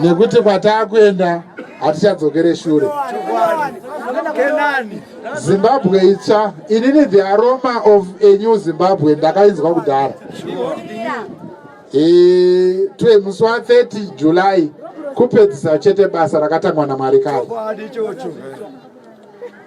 nekuti kwataakuenda hatichadzokere shure zimbabwe itsva inini the aroma of a new zimbabwe ndakainzwa kudhara twe musi wa 30 july kupedzisa chete basa rakatangwa namwari kare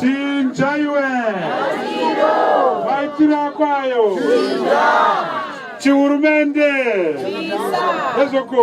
chinjaiwe vaitira kwayo chihurumende ezvoko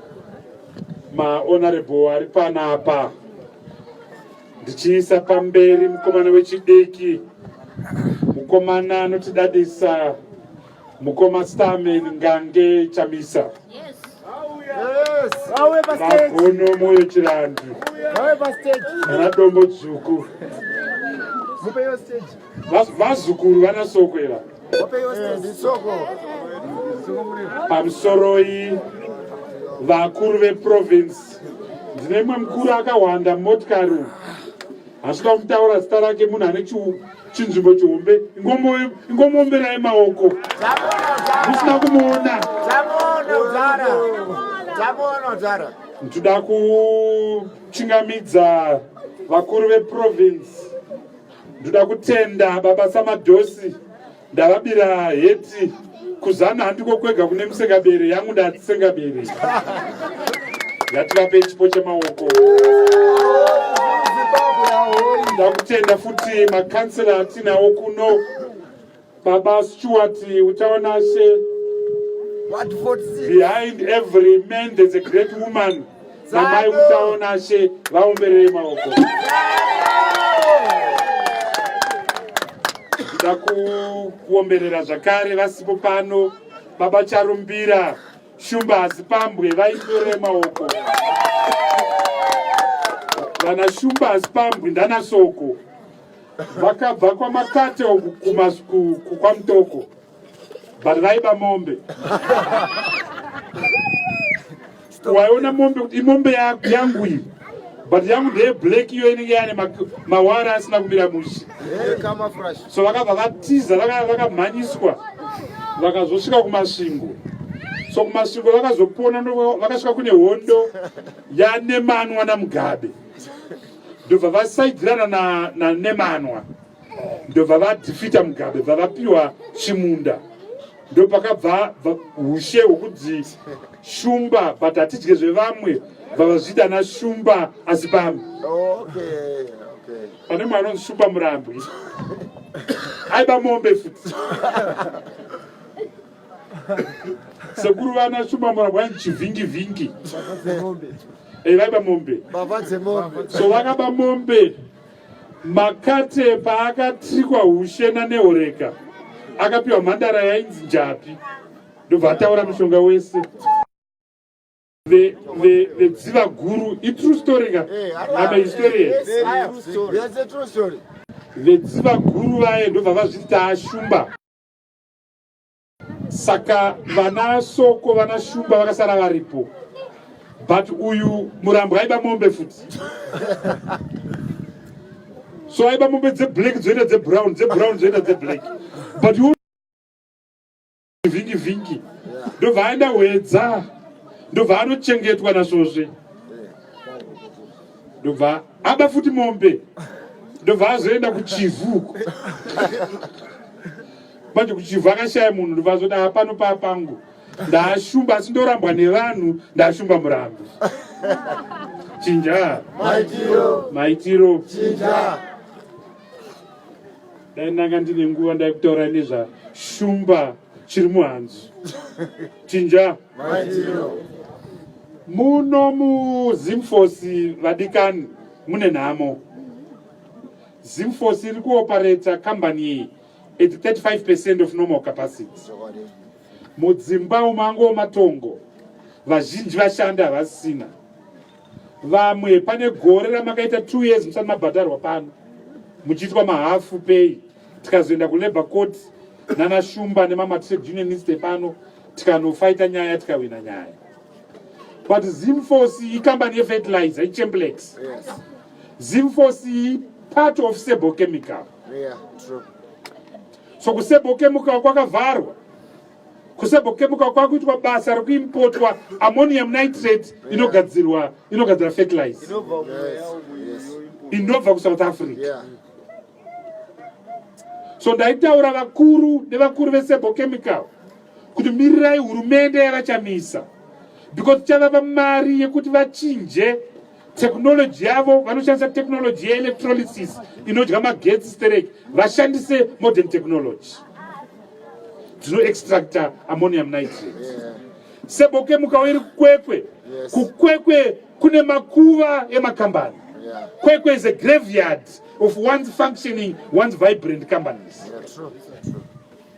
mahonorable ari panapa ndichiisa pamberi mukomana wechidiki mukomana anotidadisa mukoma stamen ngange chamisa magono moyo chirandu ana dombo dzvuku vazukuru vanasokwera pamusoroi vakuru veprovince ndine imwe mukuru akahwanda motikari hazvida kumutaura zita rake munhu ane chinzvimbo chihombe ingomomberai maoko musina kumuona ndoda kuchingamidza vakuru veprovince ndoda kutenda baba samadosi ndavabira heti kuzana handiko kwega kune musengabere yangu ndatisengabere ngativape chipo chemaoko ndakutenda futi makansela atinawo kuno Baba Stuart Utaonashe, behind every man there's a great woman. Namai Utaonashe vaomberere maoko. Nda kuomberera zvakare vasipo pano Baba Charumbira Shumba Hazipambwe vaitore maoko. Vana Shumba Hazipambwe ndana Soko. vakabva kwamakate kwamutoko but vaiba mombe waiona mombe kuti imombe yangu iyi but yangu ndeye black iyo inenge yane mawara asina kumira mushe so vakabva vatiza vakamhanyiswa vakazosvika kumasvingo so kumasvingo vakazopona vakasvika kune hondo yanemanwa namugabe ndobva vasaidzirana na, na nemanwa ndobva vadhifita mugabe bva vapiwa chimunda ndopakabva ushe hwekudzi shumba but hatidye zvevamwe vavazvita na shumba asi pamwe pane mwe anonzi shumba murambwi aiba mombe futi sekuru vana shumba murabwa chivhingi vhingi eh, vaiba mombe so vakaba mombe makate paakatrikwa hushena nehoreka akapiwa mhandara yainzi njapi ndobva ataura mushonga wese vedziva guru itrue story ka ama historian vedziva guru vaye ndobva vazviti taashumba saka vana soko vana shumba vakasara varipo but uyu murambo aiba mombe futi so aiba mombe dzeblack dzoita dzebrown dzebrown dzoita dzeblack but vhingi vhingi ndobva aenda hwedza ndobva anochengetwa nasvozve ndobva aba futi mombe ndobva azoenda kuchivuko manje kuchivhu akashaya munhu ndovazoti aa pano paa pangu ndaashumba asi ndorambwa nevanhu ndaashumba murambi chinja maitiro maitiro chinja dai ndanga ndine nguva ndai kutaura nezvashumba chiri muhanzu chinja maitiro muno muzimfosi vadikani mune nhamo zimfosi iri kuopareta kambani iyi It's 35% of normal capacity. Mudzimba umango matongo vazhinji vashanda havasina vamwe pane gore ramakaita 2 years musati mabhadharwa pano muchiitwa mahafu pay tikazoenda kulabour court nana shumba nemama trade unionist epano tikanofaita nyaya tikawina nyaya but zimforce ikambani yefertilizer ichemblex zimforce part of sable chemical Yeah, true. So kusebokemuka kwakavharwa kusebokemuka kwakuitwa basa rekuimpotwa ammonium nitrate inogadzirwa inogadzira fertilize inobva kusouth africa yeah. so ndaitaura vakuru nevakuru vesebochemical kuti mirirai hurumende yavachamisa because chavava mari yekuti vachinje technology yavo vanoshandisa technology yeelectrolysis inodya magetsi stereki vashandise modern technology dzinoextracta ammonium nitrate seboke mukawo iri kukwekwe kukwekwe kune makuva emakambani kwekwe is a graveyard of one's functioning one's vibrant companies yeah, true, true, true.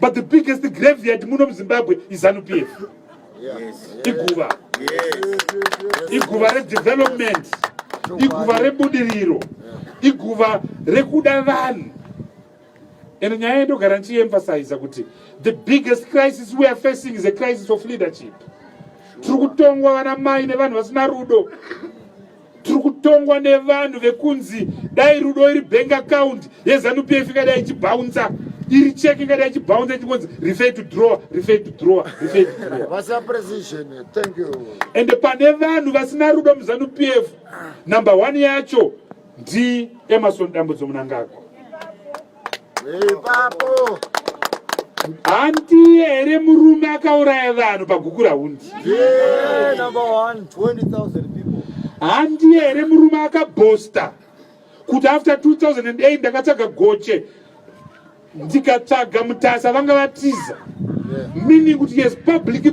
but the biggest graveyard muno muzimbabwe izanupf iguva iguva redevelopment iguva rebudiriro iguva rekuda vanhu and nyaya yendogara ndichiemphasiza kuti the biggest crisis we are facing is a crisis of leadership tiri kutongwa vana mai nevanhu vasina rudo tiri kutongwa nevanhu vekunzi dai rudo iri bank account yezanupf ingadai ichibhaunza iri cheki ingadai ichibhaunza ichingonzi refer to drawer refer to drawer refer to drawer vasa precision thank you and pane vanhu vasina rudo muzanupf number 1 yacho ndi emerson dambudzo munangagwa ipapo handiye here murume akauraya vanhu pagukura hundi handiye here murume akabhosta kuti after 2008 ndakatsvaga goche ndikatsvaga mutasa vanga vatiza meaning kuti yes public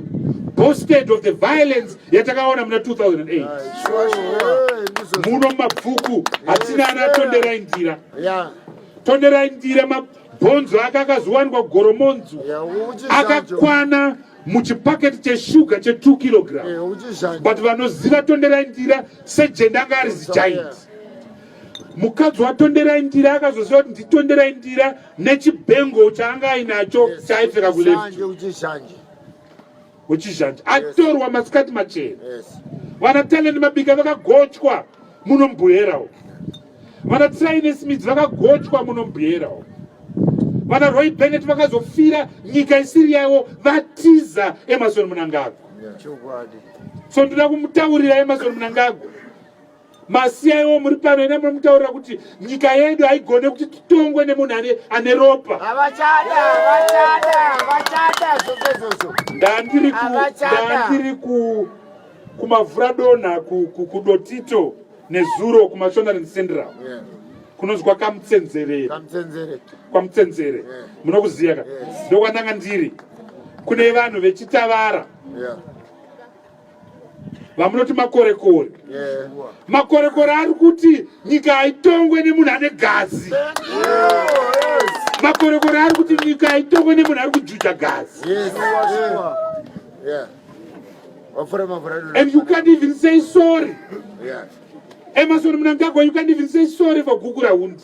boasted of the violence yatakaona muna 2008 muno mabvuku hatina anatondera indira yeah. tonderai ndire mabhonzo ake akazowanikwa goromonzo yeah, akakwana muchipaketi cheshuga che 2 kilogram yeah, but vanoziva tonderai ndira sejenda anga ari zigiant yeah mukadzi watonderai ndira akazoziva kuti nditonderai ndira nechibhengo chaanga ainacho chaipfeka kuleft wechizhanje atorwa masikati machena vana talent mabika vakagochwa muno mubhuhera uko vana traine smith vakagochwa muno mubhuhera uko vana roy benet vakazofira nyika isiri yaiwo vatiza emarson munangagwa so ndoda kumutaurira emarson munangagwa masiyaiwo muri pano ina munomutaurira kuti nyika yedu haigone kuti titongwe nemunhu ane ane ropa ndandiri kumavhura donha kudotito nezuro kumashonarin central kunonzwa kamutsenzerere kwamutsenzere munokuziva ka ndokwandanga ndiri kune vanhu vechitavara vamunoti makorekore makorekore ari kuti nyika haitongwe nemunhu ane gazi makorekore ari kuti nyika haitongwe nemunhu ari kujuja gazi and you can't even say sorry emasoni munangagwa you can't even say sorry for gukura hundi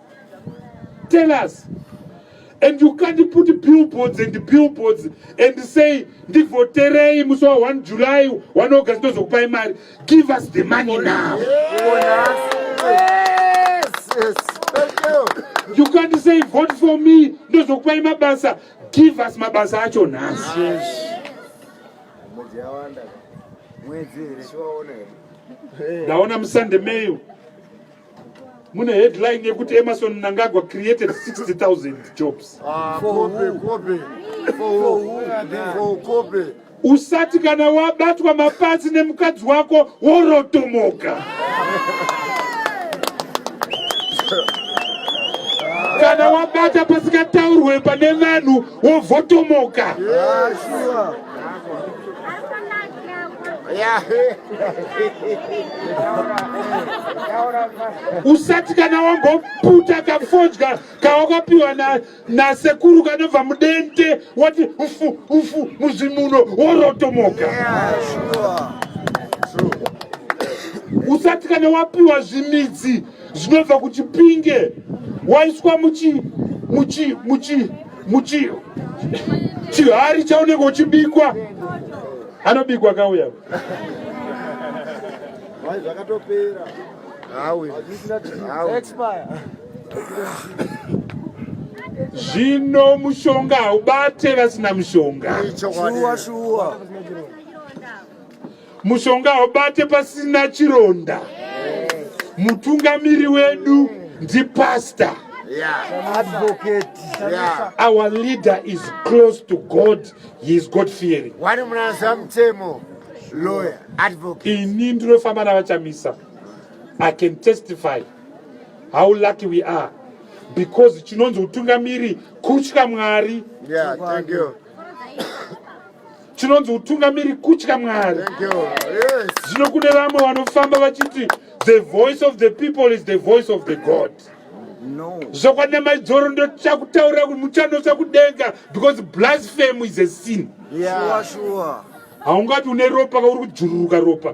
tell us and you can't put billboards and billboards and say ndivhoterei musi wa 1 july 1 august ndozokupai mari give us the money now you can't say vote for me ndozokupai mabasa give us mabasa acho nhasi ndaona musande meyo mune headline yekuti emerson mnangagwa created 60000 jobs ah, usati kana wabatwa mapazi nemukadzi wako worotomoka kana wabata pasingataurwe pane vanhu wovhotomoka yeah, sure. usati kana wamboputa kafodya kawakapiwa nasekuru kanobva mudente wati ufu ufu muzimuno worotomoka usati kana wapiwa zvimidzi zvinobva kuchipinge waiswa muchi muchi muchi muchi chihari chaunenge uchibikwa anobikwa kauya zvakatopera zvino mushonga haubate vasina mushonga shuwa shuwa Mushonga haubate pasina chironda. Mutungamiri wedu ndipastor. Yeah. Advocate. Yeah. Our leader is close to God. He is God fearing. Wari munasa mutemo lawyer advocate. Ini ndinofamba navachamisa. I can testify how lucky we are because chinonzi utungamiri kutya Mwari. Yeah, thank you. chinonzi utungamiri kutya mwari zvino kune vamwe vanofamba vachiti the voice of the people is the voice of the god zvokwana maidzoro ndochakutaurira kuti muchanotsa kudenga because blasphemy is a sin haungati une ropa kauri kujururuka ropa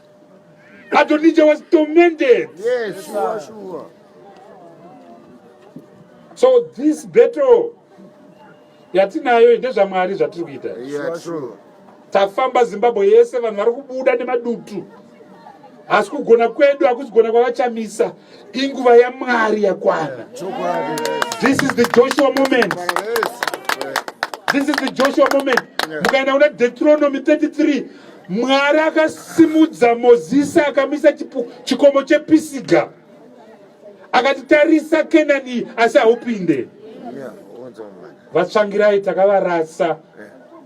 Adonija was tormented. Yes, sure, sure. So this battle yatinayo ndezvamwari zvatiri kuita. Yeah, true. Tafamba Zimbabwe yese vanhu vari kubuda nemadutu. Asi kugona kwedu hakusi kugona kwavachamisa. inguva yamwari yakwana this is the joshua moment this is the joshua moment mukaenda kuna deuteronomy 33 mwari akasimudza mozisi akamisa chikomo chepisiga akati tarisa kenani asi haupinde vatsvangirai takavarasa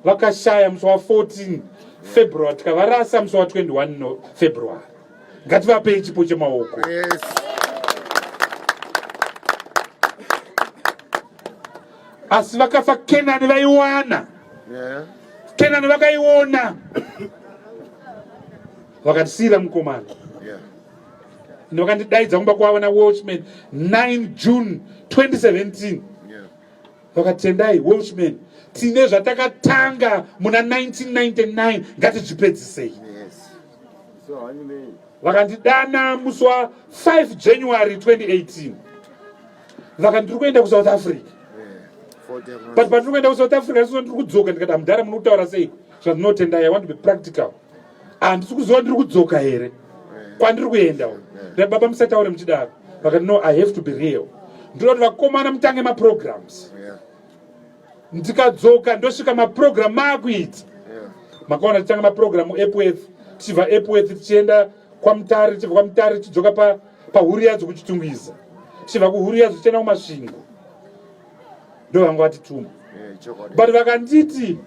vakashaya musi wa 14 february tikavarasa musi wa 21 february ngativapei chipo chemaoko yes. asi vakafa kenani vaiwana yeah. kenani vakaiona vakatisiira mukomana yeah. vakandidaidza kumba kwavo nawatchman 9 june 2017 vakatendai yeah. watchman tine zvatakatanga muna 1999 ngatizvipedzisei yeah. vakandidana musi wa 5 january 2018 vaka ndiri kuenda kusouth africa but patiri kuenda kusouth africa ndisoo ndiri kudzoka ndikata mudhara muno kutaura sei zvandinotenda i want to be practical handisi kuziva ndiri kudzoka here kwandiri kuenda u nda baba musataure muchidaro vakati no i have to be real ndinoda kuti vakomana mutange maprograms yeah. ndikadzoka ndosvika maprogram maakuita makaona tichitanga maprogram epworth tichibva epworth tichienda kwamutare tichibva kwamutare tichidzoka pahuri yadzo kuchitungwiza tichibva kuhuri yadzo tichienda kumasvingo ndo vanga vatituma but vakanditi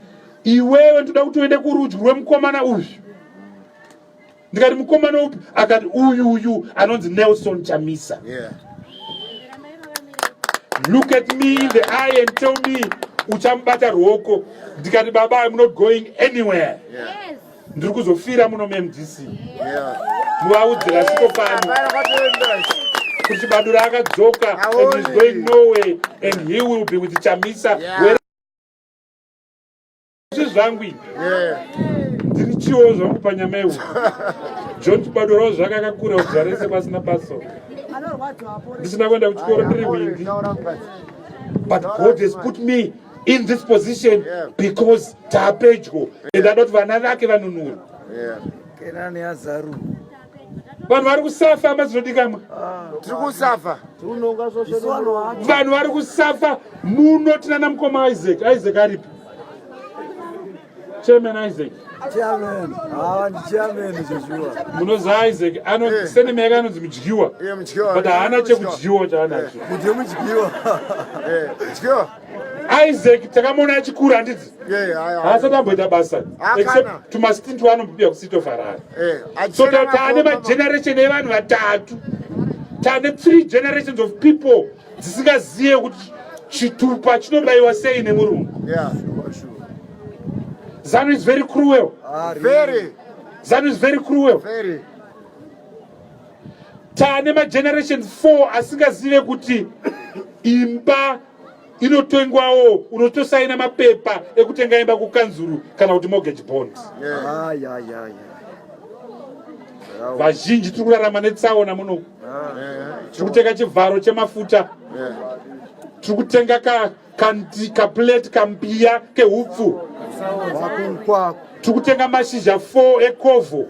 iwewe ndoda kuti uende kurudyi rwemukomana uyu ndikati mukomana upi akati uyu uyu anonzi nelson chamisa yeah. look at me in the eye and tell me uchamubata ruoko ndikati baba im not going anywhere yes. ndiri kuzofira muno mumdc yeah. muvaudzira siko pano kuti badura akadzoka and he's going noway and he will be with chamisa yeah. Zvi zvangu ibi. Yeah. Ndiri chiwo zvangu panyama yehu. John Chibadoro zvaka kakura uzarese pasina baso. Ndisina kuenda kuchikoro ndiri windi. But God has put me in this position yeah. because tapedyo. Yeah. And I don't vana vake vanunuru. Yeah. Kenani azaru. vanhu vari kusafa mazvinodikamwa ah, tiri kusafa vanhu vari kusafa muno tinana mukoma isaac isaac aripi chairman isaac ah, munoziva isaac eh. senema yake anonzi mudyiwa but haana chekudyiwa chaanacho isaac takamuona achikura handidzi haasati amboita basa except tumastint waanombobia kucity of harare eh, so taane mageneration evanhu vatatu taane three generations of people dzisingazive kuti chitupa chinobayiwa sei nemurungu zanu is very cruel ah, zanu is very cruel Tane mageneration 4 asingazive kuti imba inotengwawo unotosaina mapepa ekutenga imba kukanzuru kana kuti mortgage bond vazhinji tiri kurarama netsaona muno tiri kutenga chivharo chemafuta tiri kutenga ka kanti kaplate kambiya kehupfu tikutenga mashizha 4 ekovho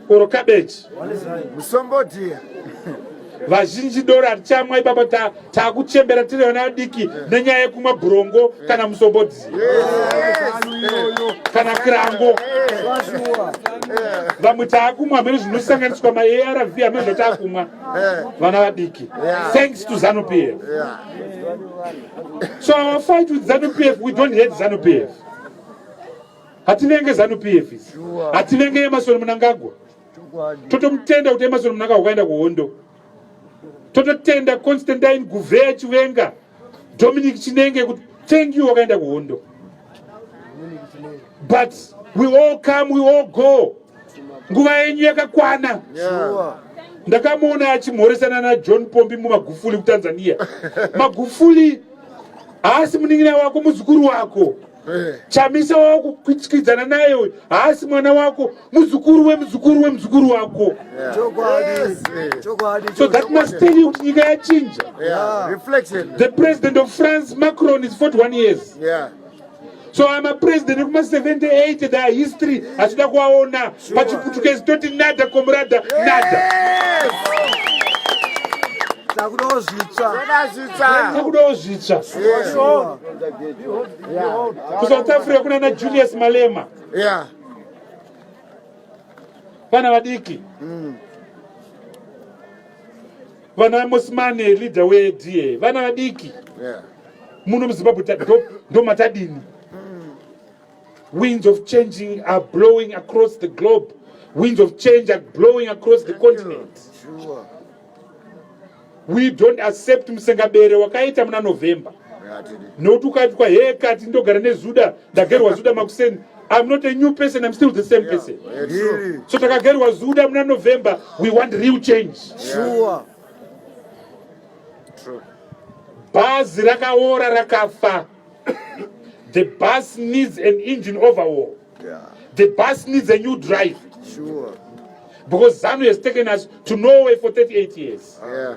oro kabeji musombodhiya vazhinji dora richamwa ipapa takuchembera ta tiri vana vadiki eh. nenyaya yekumwa bhurongo eh. kana musombodhi kana kirango eh. vamwe taakumwa hamene zvinosanganiswa maarv hamene zvataakumwa vana vadiki thanks to zanupf so our fight with zanu p f we don't hate zanu p f hatinenge zanu p f isi hatinenge emasoni munangagwa totomutenda kuti emasoni munangagwa kwaenda kuhondo tototenda constantine guvheya chivenga dominic chinenge kuti thank you wakaenda kuhondo but we all come we all go nguva yenyu yakakwana ndakamuona achimhoresana najohn pombi mumagufuli kutanzania magufuli haasi munin'ina wako muzukuru wako eh. chamisa wako kuchikidzana naye uyu haasi mwana wako muzukuru wemuzukuru wemuzukuru wako so that must tell you kuti nyika yachinja the president of france macron is 41 years yeah. so ama president ekuma 78 da history hatida kuvaona pachiputukezi toti nada komurada nada takudawo zvitsva kusouth africa kuna na julius malema vana vadiki mm. vana mosimane leader weda vana vadiki muno muzimbabwe ndomatadini winds of changing are blowing across the globe winds of change are blowing across the continent we don't accept musengabere wakaita muna november nokuti ukaitwa hee kati ndogara nezuda ndagerwa zuda makuseni I'm not a new person, I'm still the same person. Yeah, so takagerwa zuda muna November, we want real change. Sure. True. Bhazi rakaora rakafa. The bus needs an engine overhaul. Yeah. The bus needs a new drive. Sure. Because ZANU has taken us to Norway for 38 years. Yeah.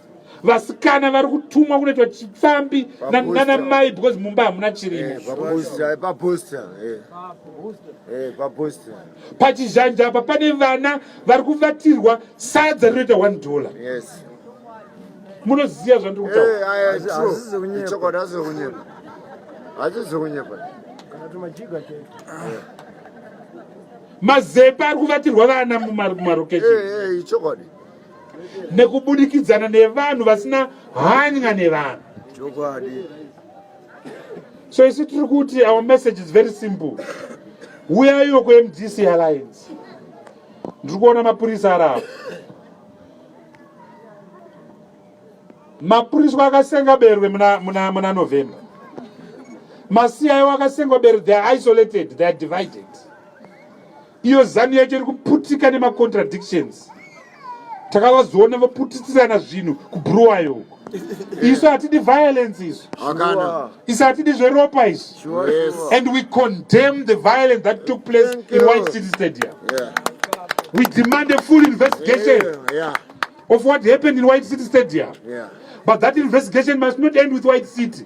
vasikana vari kutumwa kunoitwa chipfambi nana mai because mumba hamuna chirimo eh, eh. eh, pachizhanja apa pane vana vari kuvatirwa sadza rinoita one dollar munoziva zvandiri kutaura mazepa ari kuvatirwa vana mumarokesheni nekubudikidzana nevanhu vasina hanya nevanhu so isi tiri kuti our message is very simple uyayiwo kumdc alliance ndiri kuona mapurisa ari apo mapuriswa akasenga berwe muna, muna, muna november masiyayo akasenga berwe theyare isolated theyare divided iyo zanu yacho iri kuputika nemacontradictions takavazoona vaputitirana zvinhu kubruwayo uko isu hatidi violence isu isu hatidi zveropa isu and we condemn the violence that took place in white city stadium yeah. we demand a full investigation yeah, yeah. of what happened in white city stadium yeah. but that investigation must not end with white city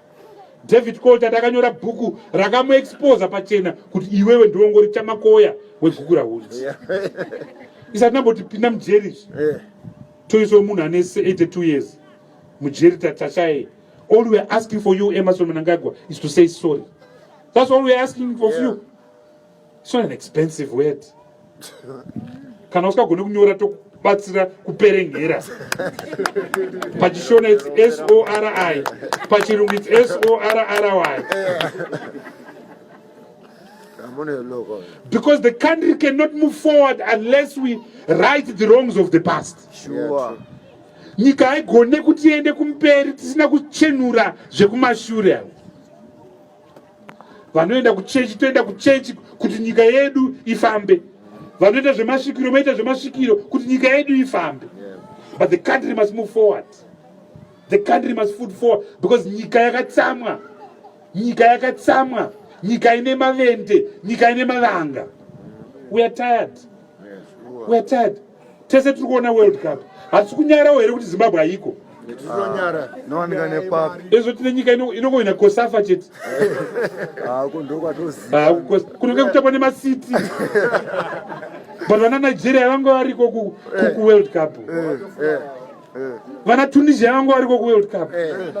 david colter ndakanyora bhuku rakamuexposa pachena kuti iwewe ndiongori chamakoya wegukura hudzi isati nambotipinda mujeri izvi eh. toiswa munhu ane 82 years mujeri tatashaye all weare asking for you emerson mnangagwa is to say sorry thats all weare asking of yeah. you It's not an expensive word. Kana usikagone kunyora tokubatsira kuperengera. Pachishona it's S O R I. Pachirungu it's S O R R Y. Because the country cannot move forward unless we right the wrongs of the past. Sure. Nyika haigone kuti iende kumberi tisina kuchenura zvekumashure. vanoenda kuchechi toenda kuchechi kuti nyika yedu ifambe vanoita zvemasvikiro maita zvemasvikiro kuti nyika yedu ifambe but the country must move forward the country must food forward because nyika yakatsamwa nyika yakatsamwa nyika ine mavende nyika ine mavanga we are tired we are tired tese tiri kuona world cup hatisi kunyarawo here kuti zimbabwe haiko ezvo tine nyika inongoina kosafa chete kunenge kutambwa nemacity but vana nigeria vanga variko kuworld cup eh, eh, eh. vana tunisia vanga variko kuworld cup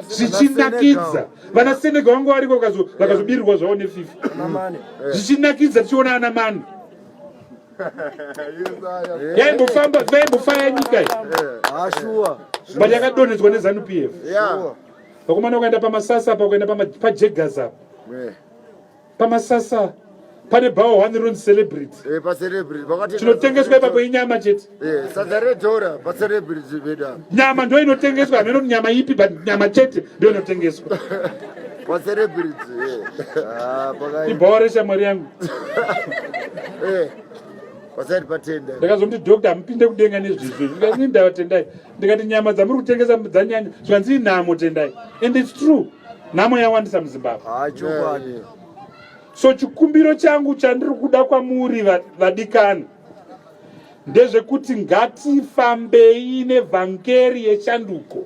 zvichinakidza vana senegal vanga variko vakazobirirwa zvavo nefifa zvichinakidza tichiona ana mani yaimbofamba yaimbofaya nyika iyi but yakadonhedzwa nezanu p f vakomana ukaenda pamasasa apa ukaenda pajegas apa pamasasa pane bhawa one run celebrity eh, chinotengeswa ipapo inyama chete eh, nyama ndo inotengeswa hameno nyama ipi but nyama chete ndo inotengeswa Kwa celebrity. Ah, pakai. Ibore shamwari yangu. Eh. Pasati patenda. Ndakazomti doctor amupinde kudenga nezvizvi. Ndikati ndawa tendai. Ndikati nyama dzamuri kutengesa dzanyanya. Zvanzi inhamo tendai. And it's true. Nhamo yawandisa muZimbabwe. Ah, chokwadi. So chikumbiro changu chandiri kuda kwamuri vadikani. Va ndezvekuti ngatifambei nevhangeri yeshanduko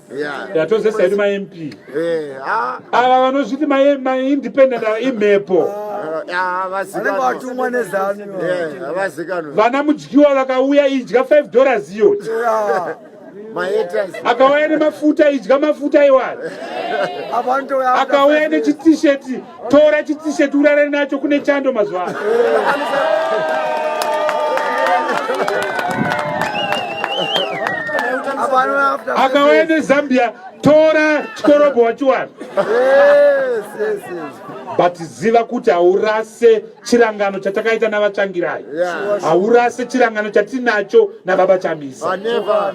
yatozesa yedu mamp eh, ah. ava vanozviti maindependent ava imhepo ah, vana mudyiwa vakauya idya 5 dollars iyo akauya nemafuta idya mafuta iwaya akauya nechitisheti tora chitisheti urare nacho kune chando mazuva ano akauya nezambia tora chikorobho wachiwana but ziva kuti haurase chirangano chatakaita navatsvangirai haurase chirangano chatinacho nababa chamisa ah,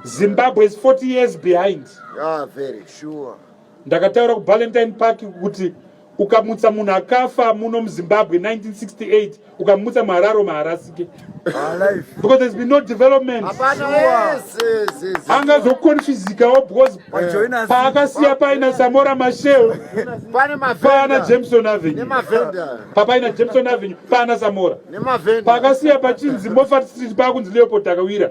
zimbabwe is 40 years behind yeah, very sure. ndakataura kubalentine park kuti ukamutsa munhu akafa muno muzimbabwe 1968 ukamutsa muhararo maharasike because there's been no development anga zokonfizikawo because paakasiya paina samora mashel paana jameson avenue papaina jameson avenue paana samora paakasiya pachinzi mofat street paakunzi leopold akawira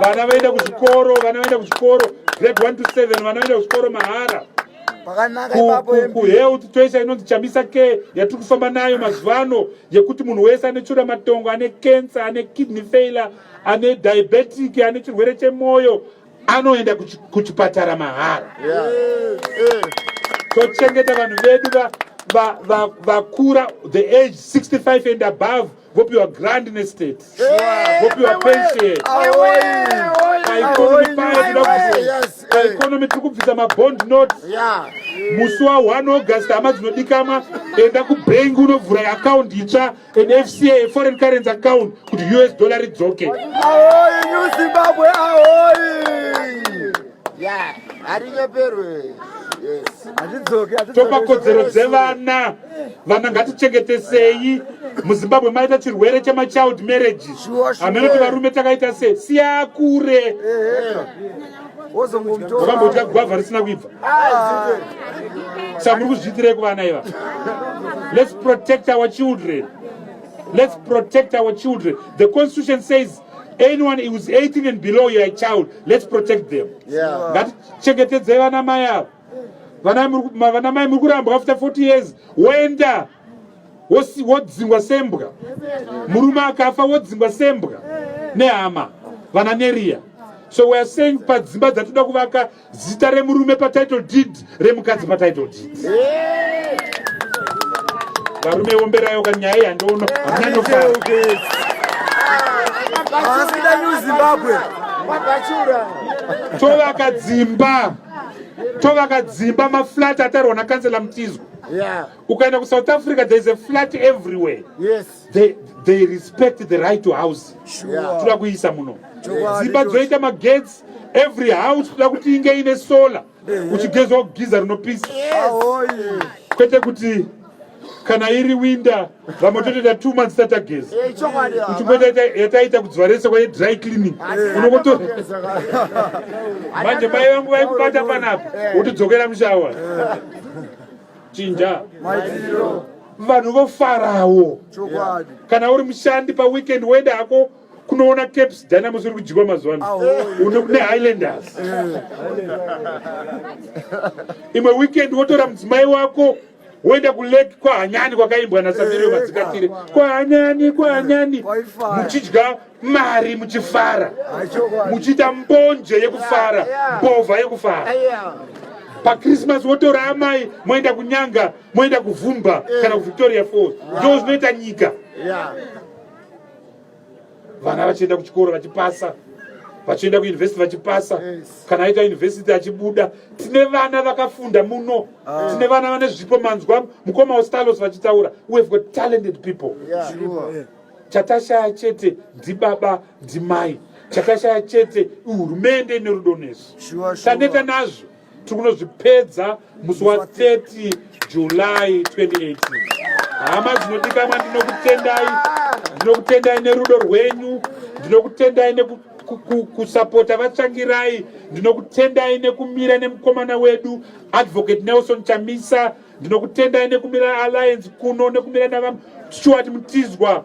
vana vaenda kuzvikoro vana vaenda kuzvikoro grade 1 to 7 vana vaenda kuzvikoro mahara kuhealth toisa inonzi chamisa ke yatiri kufamba nayo mazuva ano yekuti munhu wese ane chura matongo ane cancer ane kidney failure ane diabetic ane chirwere chemwoyo anoenda kuchipatara mahara tochengeta vanhu vedu vakura the age 65 and above vopiwa grant nestate vopiwa pension paeconomy paye tida kuti paeconomy tiri kubvisa mabond note musi wa 1 august hama dzinodikamwa enda kubhengi unovhura account itsva an fca foreign currency account kuti us dollar ridzoke topa kodzero dzevana vana ngatichengetesei muzimbabwe maita chirwere chemachild marriage hameno ti varume takaita se siya kure vakambodya gwavha risina kuibva saka muri kuzviitirei kuvana iva let's protect our children let's protect our children the constitution says anyone whois 18 and below your child let's protect them ngatichengetedzei vana mai ava vana mai muri kurambwa after 40 years woenda wodzingwa sembwa murume akafa wodzingwa sembwa nehama vana neriya so weare saying padzimba dzatinoda kuvaka zita remurume patitle deed remukadzi patitle deed varume womberayo ka nyaya yandoono hamuna nofara tovaka dzimba tovaka dzimba maflat atarwa nakansela mutizwa yeah. ukaenda kusouth africa there is a flat everywhere yes. they, they respect the right to house yeah. toda kuisa muno dzimba dzoita magetsi every house toda kuti inge ine solar uchigezwa kugiza rinopisa kwete kuti kana iri winda vamwe totoita two months tatageza uchimboita yataita kudziva rese kwaye dry cleaning unokoto manje mai vangu vaikubata panapa wotodzokera mushawa chinja vanhu vofarawo kana uri mushandi paweekend woenda hako kunoona caps dynamos uri kudyiwa mazuva ano nehighlanders imwe weekend wotora mudzimai wako woenda kulake kwahanyani kwakaimbwa nasabirio madzikatire eh, kwahanyani kwahanyani muchidya mari muchifara muchiita mbonje yekufara mbovha yekufara pachristmas wotora amai moenda kunyanga moenda kuvhumba eh. kana kuvictoria falls ndo zvinoita nyika vana vachienda kuchikoro vachipasa vachienda kuuniversity vachipasa kana aita university achibuda tine vana vakafunda muno ah. tine vana vane zvipo manzwa mukoma westalos vachitaura wehave got talented people chatashaya chete ndibaba ndimai chatashaya chete hurumende ine rudo nesu taneta nazvo tiri kunozvipedza musi wa 30 july 2018 hama dzinodikamwa ndinokutendai ndinokutendai nerudo rwenyu ndinokutendai nekusapota vatsvangirai ndinokutendai nekumira nemukomana wedu advocate nelson chamisa ndinokutendai nekumira alliance kuno nekumira navamshuwati mutizwa